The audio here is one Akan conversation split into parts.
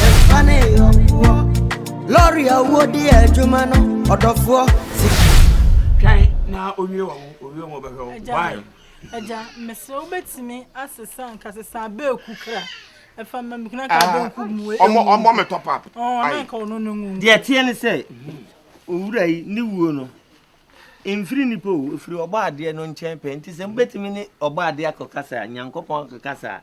Yɛmfa ne yɔnkoɔ. Lɔre a wodi adwuma no, ɔdɔfoɔ. Sika. Twɛn na owie wɔn, owie wɔn bɛhwɛ wɔn. Why? Agya, mesrɛ wobɛtumi asesa nka sesa abeeku kra. Ɛfa mma me kuna ka abeeku mu. Ɔmɔ ɔmɔ me top up. Ɔn na nka ɔno no ngu. Deɛ teɛ ne sɛ owura yi ne wuo no mfiri nipa o ɛfiri ɔbɔ adeɛ no nkyɛn pɛ nti sɛ mobɛtumi ne ɔbɔ adeɛ akɔkasa a Nyankopɔn akɔkasa a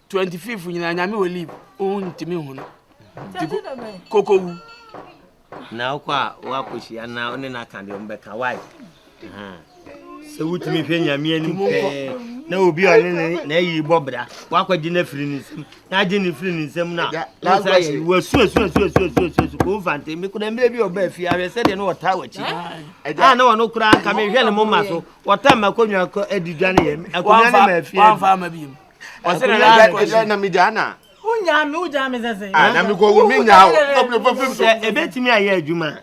twenty fifth nyinaa nyame wɔ leave ohun ntumi hu no nti koko wu. na wokɔ a woakɔhyia na wone no aka deɛ ɔmbɛka wae sɛ wotumi hwɛ nyame anim pɛɛ na obi a ɔne ne na ayi bɔ bra woakɔgye no afiri ne nsam na agye ne firi ne nsam no a wosa yɛ wasuasuasuasuasuasuasu koo mfante mekora mmerɛ bi ɔba afie ahwɛ sɛdeɛ ne ɔtaa wakyi a na ɔno koraa nka mehwɛ ne moma so ɔta ma kɔnwa adidwa ne yɛ akonnwa ne ma afie ɔsɛ na na ɛdɛ ɛdɛ na mi gya na. o nya mi o gya mi sɛ sɛ. a na mi kɔ wo mi nya o ɔbɛn fɛ fɛ. sɛ ebetumi ayɛ adwuma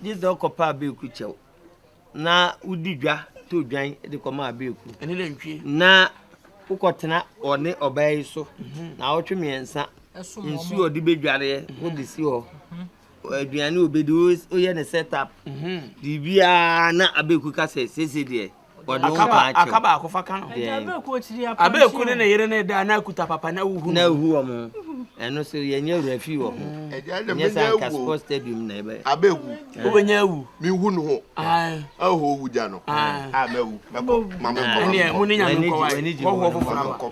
gye sɛ ɔkɔ pa abeeku kyɛw na wodi dwa to dwan de kɔ ma abeeku na wokɔ tena ɔne ɔbaa yi so mhm. na ɔtwe mmiɛnsa nsuo ɔde bedwareɛ mhm. wode si hɔ mhm. aduane obedi woyɛ ne set up biribiara na abeeku ka sɛ sese deɛ. Aka baako fa ka no. Abeeku ne ne yere ne da na akuta papa na wuhu. Na wuhu wɔn. Ɛno so yɛnyɛ wura fi wɔ ho. Nyɛ sɛ anka sports stadium na ɛbɛ. Abeeku. Wobɛnya awu. Mehu no ho. Ɛhɔ owu gya no. A mɛwu. Mɛkɔ. Mame kɔ. Ɛneɛ mo ne nyame nkɔ wae. Kɔhoɔ foforɔ akɔ.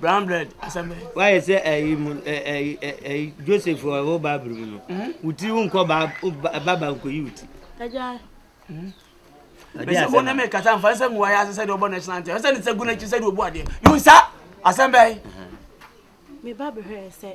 Brown bread asɛm bɛn. Wayɛ sɛ ɛyi mu ɛyi ɛyi Joseph wɔ ɛwɔ Bible mu no. Wuti wo nkɔ ba ba ba nkɔ yi wuti. Ɛgya. Bɛsɛ mo ne me kasa nfa nsɛ nguwa yɛ ase sɛ deɛ ɔbɔ national anthem ɛsɛ ne sɛ gu n'akyi sɛ deɛ ɔbu adeɛ yunsa asɛm bɛn. Me ba bɛhwɛ sɛ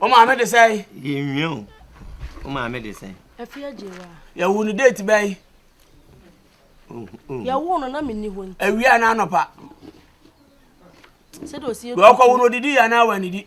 o maame de sɛn. yɛnwie o o maame de sɛn. afi agye wa. yɛwo no date bɛn. yɛwo no na menni hɔ nti. awia na anɔpa. sɛdeɛ ɔsi yɛ. wɔkɔwo no odidi yɛ anaa wɔ anidi.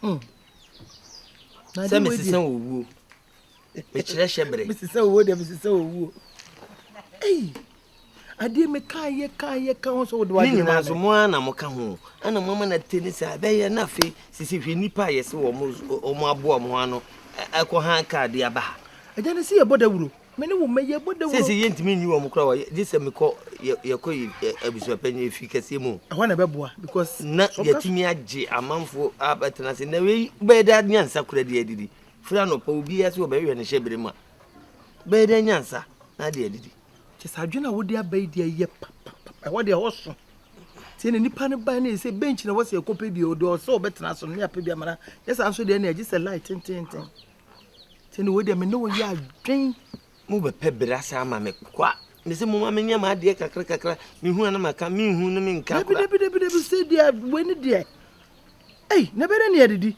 Hmm. Sɛ mesesa owuo. Mekyerɛ hyɛ bere. Mesesa owuo deɛ mesesa owuo. Ei. Adeɛ me kan yɛ kan yɛ kan ho sɛ wode wagye ma so mo ana mo ka ho. Ana mo ama na te ne saa bɛyɛ na afei sisi hwɛ nipa a yɛse wɔn wɔn aboa wɔn ano ɛkɔ han kaade aba ha. Agya ne si yɛ bɔ dawuro. Me ne wo mɛyɛ bɔ dawuro. Seesei yɛntumi nni wɔn koraa wɔ gye sɛ mekɔ yɛkɔ abusuapanyin efi kɛseɛ mu. Ɛhɔ na ɛbɛboa because. Na yɛatumi agye amanfoɔ abɛtena ase na wei bɛyɛ dɛ nyansa kura de adidi firi anɔpa obiara sɛ ɔbɛhwɛ ne hyɛbere mu a bɛyɛ dɛ nyansa na de adidi. Kyɛ sɛ adwene a wode aba yi deɛ ɛyɛ papapapa ɛhɔ deɛ ɛhɔ so tie na nipa no ban ne sɛ bench na ɛwɔ sɛ ɛkɔpɛ bi ɔde ɔsɛ ɔbɛtena so no ne apɛ bi amana nyɛ saa nso deɛ na ɛgye sɛ light tententen. Sɛ ne wei deɛ me ne wo yɛ adwen. Mo bɛ pɛ bere asa ama me kwa. Me se mo ma me nyɛ ma adeɛ kakra kakra. Me hu ana ma ka me hu ne me nka kura. Dabi dabi dabi se deɛ wei ne deɛ. Ei na bɛ ne ne adidi.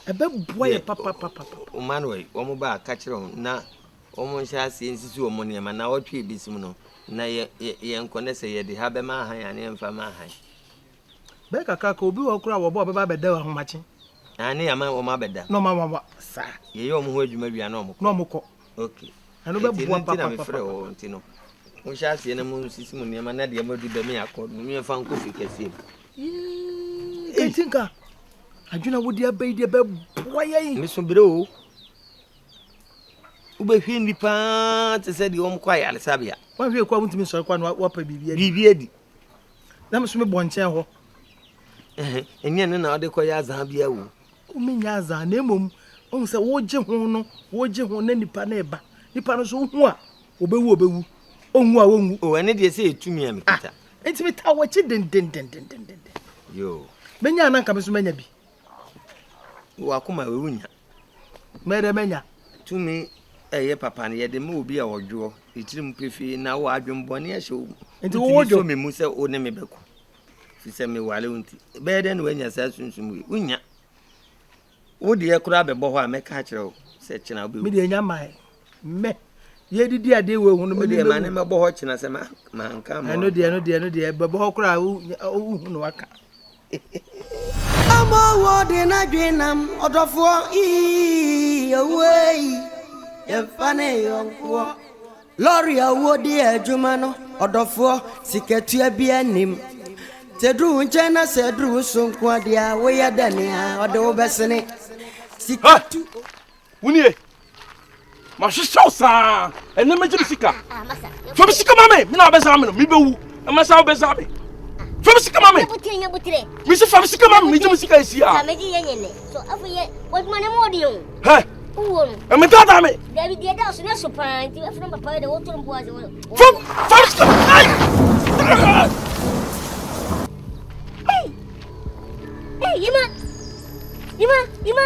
Ɛbɛ boa yɛ papa papa papa. O ma no wei wɔn ba ka kyerɛ wɔn na wɔn nhyɛ aseɛ nsisi wɔn nneɛma na wɔtwe ebi sim no na yɛ yɛ yɛn kɔ ne sɛ yɛ de ha bɛ ma ahan aneɛ nfa ma ahan. Bɛyɛ kakra koraa, obi wɔ hɔ koraa a wɔba a ɔbɛba abɛda ahomakye. Aane, ama wɔn abɛda. Na wɔn awawa saa. Yɛyɛ wɔn ho adwuma wie a, na wɔkɔ. Na wɔkɔ. Okay. Ɛno bɛboa papapapa. Nti ɛno nti na mefrɛ wɔ hɔ nti no. Monhyɛ aseɛ na monsisi mo nneɛma na deɛ moadu dɛm yɛ akɔ no momfa nkɔ fie kɛseɛ mu. Yee, nti nka adwene a wode abɛyi deɛ bɛboa yɛn. Meso berɛ o. wobɛhwɛ nnipa te sɛ deɛ wɔkɔ ayaresabea. Woanhwɛ kɔ a wontumi nsɔre kɔ a na woapa biribi adi. Biribi adi. na me so mebɔ nkyɛn hɔ. Ɛnyɛ ɛno na wode kɔyɛ azaa bia o. Womenyɛ azaa na mmom wohu sɛ wogye ho no wogye ho na nipa no reba nipa no nso wohu a wɔbɛwu wɔbɛwu ɔnwu a wɔnwu. O ɛne deɛ sɛ ɛtumi a mekita. Ah, nti metaa wɔakyi dendendendendenden. Yo. Menya na nka me nso manya bi. Wɔ akoma a ɛwɔ nya. Mɛdɛ mɛnya. Tumi ɛyɛ papa no yɛde ma obi a ɔdwoɔ ne tirim pefee na wɔ adwemmɔne ɛhyɛ wo mu. Nti wowɔ dwo? Wotumi sɔ me mu sɛ wo ne me bɛko. Fi sɛ me ware wo nti. Bɛyɛ dɛn na wanya saa sunsum wei? Wonya. Wo deɛ koraa bɛbɔ hɔ a mɛka akyerɛ wo sɛ kyena wobɛwu. Me deɛ nya mmae. Mɛ yɛdidi adeɛ wɔ ehu no mɛ deɛ ma ne mɛbɔ hɔ kyena sɛ ma ma nka ma ɛno deɛ ɛno deɛ ɛno deɛ bɛbɔ hɔ koraa wohu no waka ama wɔ de na dwenam ɔdɔfoɔ ii owuo yi yɛmfa ne yɔnkoɔ lɔre a wo de adwuma no ɔdɔfoɔ sikatua bi anim sɛ duru wo nkyɛn na sɛ duru wo so nko adeɛ a woyɛ dɛ nea ɔde wo bɛsene sikatu wonie mahwehwɛ wo saa ɛnɛ mɛgye me sika fa me sika ma me me na wobɛsa me no mebɛwu ɛma sa wobɛsa me fa me sika ma me mese fa me sika ma me megye me sika ɛsi a ɛmetaataa me Hey, Yima! Yima! Yima!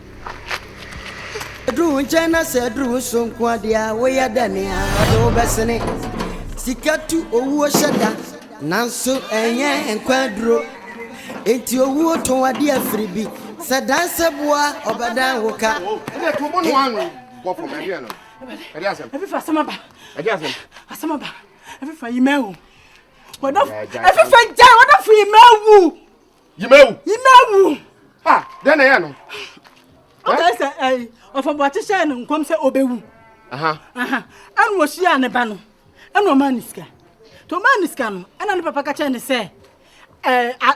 Duru wo nkyɛn na sɛ aduru wo so nko a deɛ a woyɛ dɛ ne a ɔde wo bɛsene Sika tu owuo hyɛ da nanso ɛnyɛ nkwa aduro Enti owuo tɔn adeɛ afiri bi sɛ dan sɛ boa ɔbɛdan wo ka Ɛdeɛ to bɔ no ano bɔ fam ɛdeɛ no ɛdeɛ asɛm Ɛfifa asɛm aba ɛdeɛ asɛm Asɛm aba ɛfifa yi mɛwo Ɛfifa gyae wɔdafo yi mɛwo yimawu yimawu ha dɛn na ɛyɛ no ɔkae sɛ ɛyi ɔfɔboakye hyɛɛ no nkɔm sɛ ɔbɛwu ɛna wɔhyiaa ne ba no ɛna ɔmaa ne sika nti ɔmaa ne sika no ɛna ne papa ka kyerɛ ne sɛ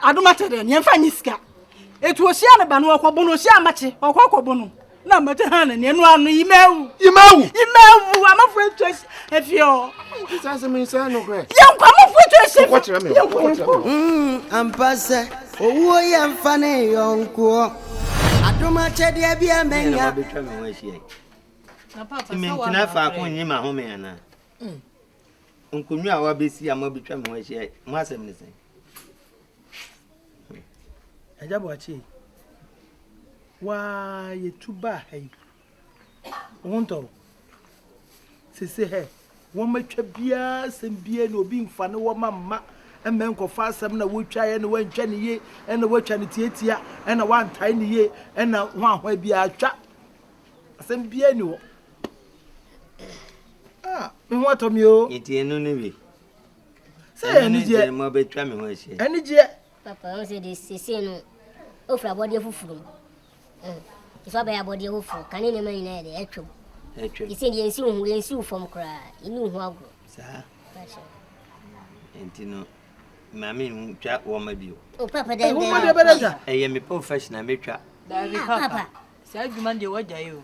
adom akyɛ dɛ neɛmfa nye sika ɛti ɔhyia ne ba no ɔkɔbo no ɔhyia amakye ɔkɔ akɔbo no na mɛte ha na nea no ano yi mɛwu. yi mɛwu. yi mɛwu amafo etu esi efi hɔ. sisi ase mi nsɛn no korɛ. yɛn nkɔ amafo etu esi. kɔkɔ kyerɛ mi o kɔkɔ kyerɛ mi o. ampa sɛ owuo yɛ nfa ne yɔnkoɔ adom akyɛdeɛ bi a mɛnya. mentena faako nyi ma home anaa nkonnwa a wabɛsi a moabɛtwa me ho ahyia mo asɛm ne sɛn Agya Boakye, waa yɛtu baa ha yi, wo ho ntɔ wo? Sese hɛ, wɔatwa biara asɛm biara na obi mfa ne wɔma mma mmɛ nkɔfa asɛm na wotwaeɛ na wantwa ne yie ɛna watwa no tiatia ɛna wantae ne yie ɛna ho ahoa biara atwa asɛm biara ni hɔ. Ah, me ho atɔ me o. Yɛtie no no bi. sɛ yɛ anigyeɛ ɛne ma bɛtwa me ho ahyia anigyeɛ papa ɔn sɛ de sese no ofura abɔdeɛ foforɔ mu nso abɛyɛ abɔdeɛ foforɔ kane nneɛma nyinaa yɛ de atwam atwam ɛsɛ deɛ nsiw ho yɛnsiw fam koraa ɛni ho agorɔ saa nti no maame hu twa wɔma bio o papa dɛ nwoma deɛ bɛdɛ twa ɛyɛ me professional mɛtwa papa saa adwuma deɛ wɔagyae o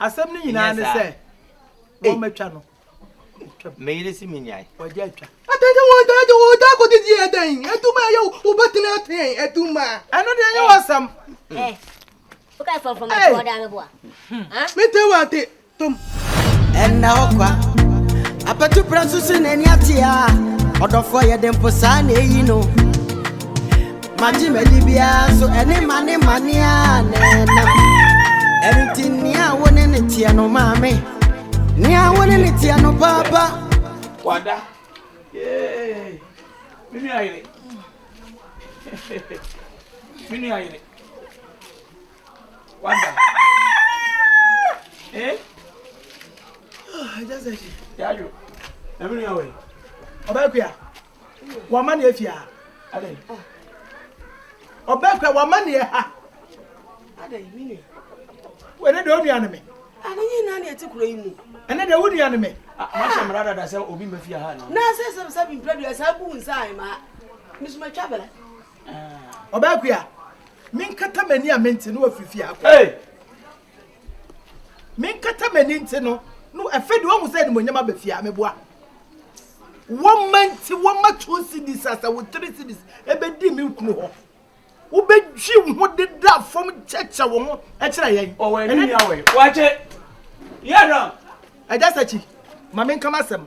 Asɛm no nyinaa ne sɛ wɔmɛtwa no. Me yere si me nyae. Wɔgye atwa. Atɛnkyɛ wɔn taa de wɔn taa kɔdi di ɛdɛn? Aduma ɛyɛ wobɛtena atɛn aduma. Ɛno deɛ ɛnyɛ wɔsɛm. Woka fɔmfɔm ɛfɔ ɔda me boa. Mete wɔ ate tom. Ɛnna ɔkwa. Apɛtu pra so so n'ani ate a. Ɔdɔfoɔ yɛ de mpo saa na eyi no. Magye m'adi biara so ɛne mane mane a na ɛnam. Ɛno nti nea wo ne ne teɛ no maame, nea wo ne ne teɛ no paapa. Wada, yay, me nua yere, me nua yere, wada, eh? Ah, just like, yeah, you, na me nua wɔ yi. Ọbaa kuya. Wama ne afie ha. Amen. Ɔbɛn kura wama ne ha. Adan mi nua. Wɛne de onua ne me. Ani nyi na ne eti kura yi mu. Ɛne de onua ne me. Ah, ma hyɛ mra dada sɛ obi ma fie ha na. Na sɛ sɛ sɛ bi mpɛ dua saa bu nsa ai ma. Misuma twa bela. Ah. Ɔbɛn kura. Min kata mani a menti no afiri fie akɔ. Hey. Menkata m'ani nte no, no afei de wahu sɛ animonyam aba fie a, meboa. Wɔma nti wɔma two cities asa wo three cities ɛbɛdi me kunu hɔ. Wobɛdwi wo ho deda fam kyɛkyɛ wo ho kyerɛ yɛn. Ɔwɔ ani ni awɔ yi. Wɔakye. Yɛ dɔn. Agya Sakyi, ma menka m'asɛm.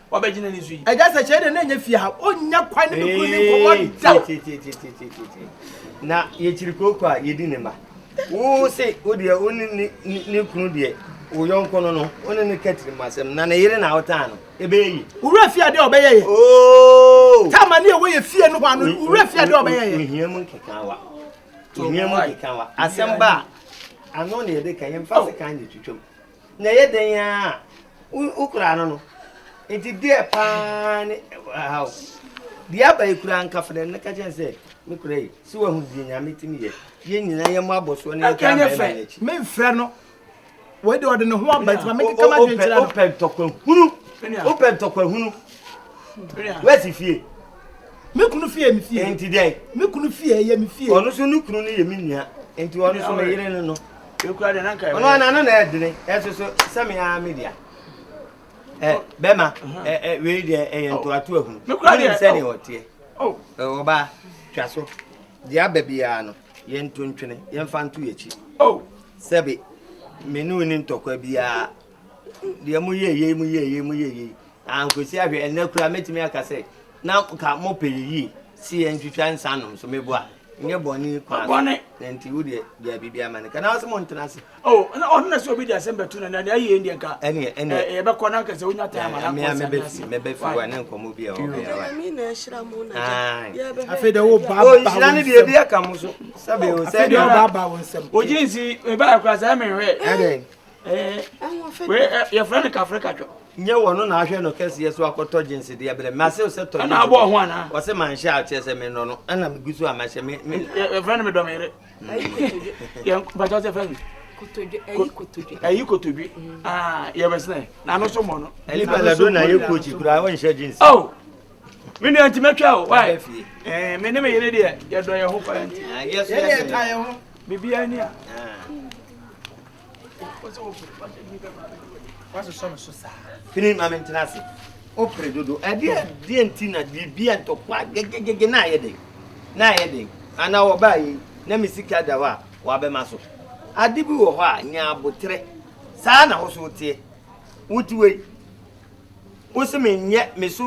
wabɛgyina ne so yi. ɛgya sɛ kyerɛ dɛ na ɛnyɛ fie ha ɔnya kwan ne ne kunu ne nkɔmmɔ da na yɛkyiri kooko a yɛdi ne ma wo se wo deɛ wo ne ne kunu deɛ wo yɔnko no no wo ne ne katiri mu asɛm na ne yere na wotaa no ɛbɛyɛ yi wura fie adeɛ ɔbɛyɛ yɛ oh! tama ne ɛwɔ yɛ fie no hɔ ano wura fie adeɛ ɔbɛyɛ yɛ ohia mu nkeka wa ohia mu nkeka wa asɛm ba a ano ne yɛde ka yɛmfa se kan ne twitwam Na ɛyɛ dɛn ara a, wokura ano no. Enti deɛ paa ne ɛha o. Deɛ aba yi kura nka fɛdɛ ne ka kyerɛ sɛ me kura yi. Si wahu deɛ Nyame tumi yɛ. Yɛn nyinaa yɛn mo abɔ soɔ ne yɛn taa mɛma yɛn akyi. Me nfrɛ no. Wei deɛ ɔde ne ho aba nti ma me keka ma dwen kyerɛ no. Wopɛ ntɔkwa hunu. Wopɛ ntɔkwa hunu. Wɛsi fie. Me kunu fie me fie. Enti deɛ. Me kunu fie yɛ me fie. Ɔno so ne kunu no yɛ me nua. Enti ɔno so me yere no no. Ekura de na nka. Ɔno ana no na ɛdene ɛso so sɛ me ara me dea. Ɛ bɛma ɛ ɛ wei deɛ ɛyɛ ntoato ahunu. Me kura deɛ sɛ ne ɔteɛ. Oh. Ɔbaa twa so. Deɛ aba biara no yɛn nto ntwene yɛn fa nto yɛn akyi. Oh. Sɛbi me ne wo ni ntɔkwa biara. deɛ moyɛɛ yei moyɛɛ yei moyɛɛ yei ankwesi ahwɛ ɛnɛ koraa mɛtumi aka sɛ na ka mopɛ yɛ yie si yɛ ntwitwa nsa nom so meboa nyɛ bɔne kwa bɔne na nti wo deɛ deɛ biribi ama no ka na ɔsɛ mo ntena ase oh na ɔno na sɛ obi de asɛm bɛto na na ayie deɛ nka ɛneɛ ɛneɛ yɛbɛkɔ na nkɛsɛ wonya taa ma na nkɔ sɛ mɛbɛfi mɛbɛfi wa ne nkɔmmɔ bi a ɔbɛyɛ wa mi na ɛhyira mo na yɛbɛbɛ afei de wo ba ba wo nsɛm ɔhyira ne deɛ bi aka mo so sɛbe o sɛ deɛ ɔba ba wo nsɛm ogye nsi mebaa kora sɛ mehwɛ ɛdɛn yɛfrɛ no kafrɛ katwɔ nyɛ wɔ no na ahwɛ no kɛseɛ so akɔtɔ gyinse deɛ berɛ mase wo sɛ tɔ ɛna abɔɔ ho anaa wɔ sɛ manhyɛ a kyerɛ sɛ menɔ no ɛna megu so a mahyɛ me yɛfrɛ no medɔ meyere bɛtɔ sɛ fɛ ayi kotodwe yɛbɛsenɛ na no so mmɔ no ɛlibalado na yɛ kochi koraa wonhyɛ gyinse me nua nti mɛtwa o wae me ne me yere deɛ yɛdɔ yɛ ho paa nti biribiaa ni a fini ma mentena ase wopere dodo ɛdeɛ deɛ nti na biribia ntɔkwa gegegege na ayɛ den na ayɛ den anaa wɔbaa yi na me sika da hɔ a wɔabɛma so ade bi wɔ hɔ a nya aboterɛ saa na wo so woteɛ wote wei wo se menyɛ meso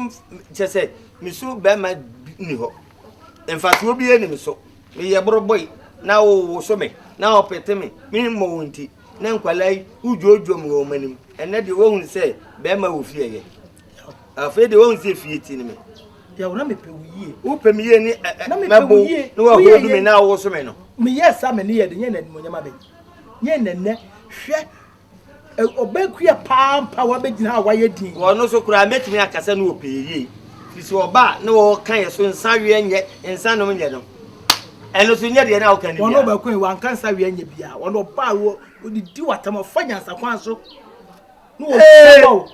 kyɛ sɛ meso bɛrima ni hɔ mfatoɔ bi ani me so Meyɛ borɔbɔe na wowoso me na wɔpete me, me mmɔ wo nti na nkwadaa yi dwoodwoom wɔ wɔn anim. Ɛnnɛ deɛ wɔahunu sɛ barima wɔ fie yɛ. Afei deɛ wɔahunu sɛ fie ti ne me. Yaw, na mepɛ wo yie. Wopɛ me yie ne ɛ ɛ mɛbo na wɔahuodu me na wowoso me no. Meyɛɛ saa a m'ani yɛɛ den, nyɛ nnɛ animuonyam abɛn. Nyɛ nnɛ nnɛ, hwɛ Ɔbaa kuaa pa ara mpo a wabɛgyina ha a wayɛ dinn. Wɔ ɔno so koraa, mɛtumi aka sɛ na ɔpɛ yɛ yie. Firi sɛ ɔba a na ɔreka yɛ so nsa weɛ nyɛ, nsa nom nyɛ no. Ɛno so nyɛ deɛ na ɔka no biara. Wɔn ɔbaa kuaa yi, wanka nsa weɛ nyɛ biara. Wɔn ɔbaa a ɔdidi w'atam, ɔfa nyansa kwan so. Na wɔhyɛ bɔ o.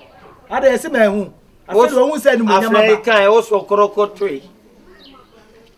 Ada yɛ sɛ mɛ ho. Afei deɛ ɔhu sɛ animuonyam aba. Afei kan, ɔsɔ korɔkɔ toe.